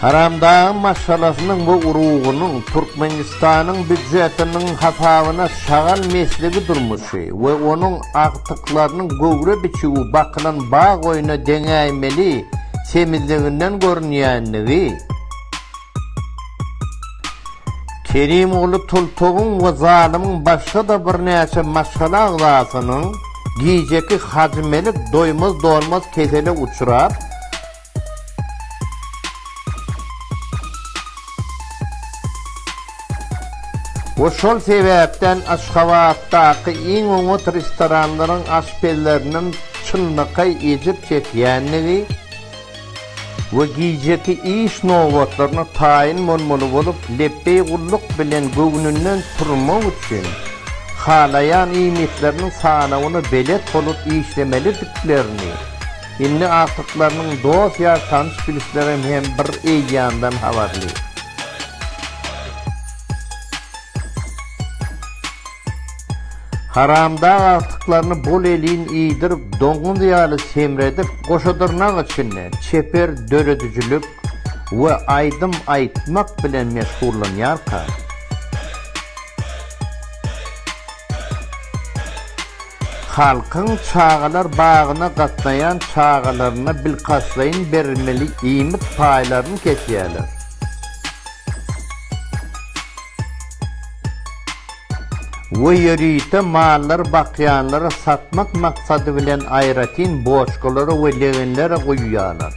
Haramdagyň maşgalasynyň we urugynyň Türkmenistanyň býujetiniň hasabyna şagal mesligi durmuşy we onuň agtyklarynyň göwre biçüwi bakylan bag oýna deňäýmeli semizliginden görünýändigi, Kerimguly Tultugyň we zalymyň başga-da birnäçe maşgala agzasynyň gijeki Hajymelik doýmaz-dolmaz kesele uçrap, We şol sebäpden Aşgabatdaky iň oňat restoranlaryň aşpezleriniň çynlakaý ejir çekýändigi we gijeki iş nobatlaryna taýyn bolmaly bolup, lepbeý gulluk bilen göwnünden turmak üçin, halaýan iýmitleriniň sanawyna belet bolup işlemelidiklerini, Indi agtyklarynyň dost-ýar, tanyş-bilişlerem hem bir eýýamdan habarly. Haramdag agtyklaryny bol-elin iýdirip, doňuz ýaly semredip, goşadyrnak içinde çeper döredijilik we aýdym aýtmak bilen meşgullanýarka, Halkyň çagalar bagyna gatnaýan çagalaryna bilkastlaýyn berilmeli iýmit paýlaryny kesýärler. We ýörite mallary bakýanlara satmak maksady bilen aýratyn boçkalara we legenlere guýýarlar.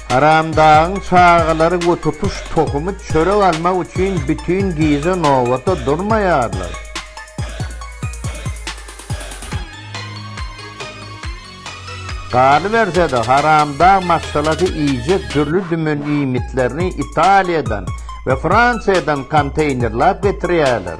Haramdagyň çagalary we tutuş tohumy çörek almak üçin bütin gije nobata durmaýarlar. Galyberse-de, haramdag maşgalasy iýjek dürli-dümen iýmitlerini Italiýadan we Fransiýadan konteýnerläp getirýärler.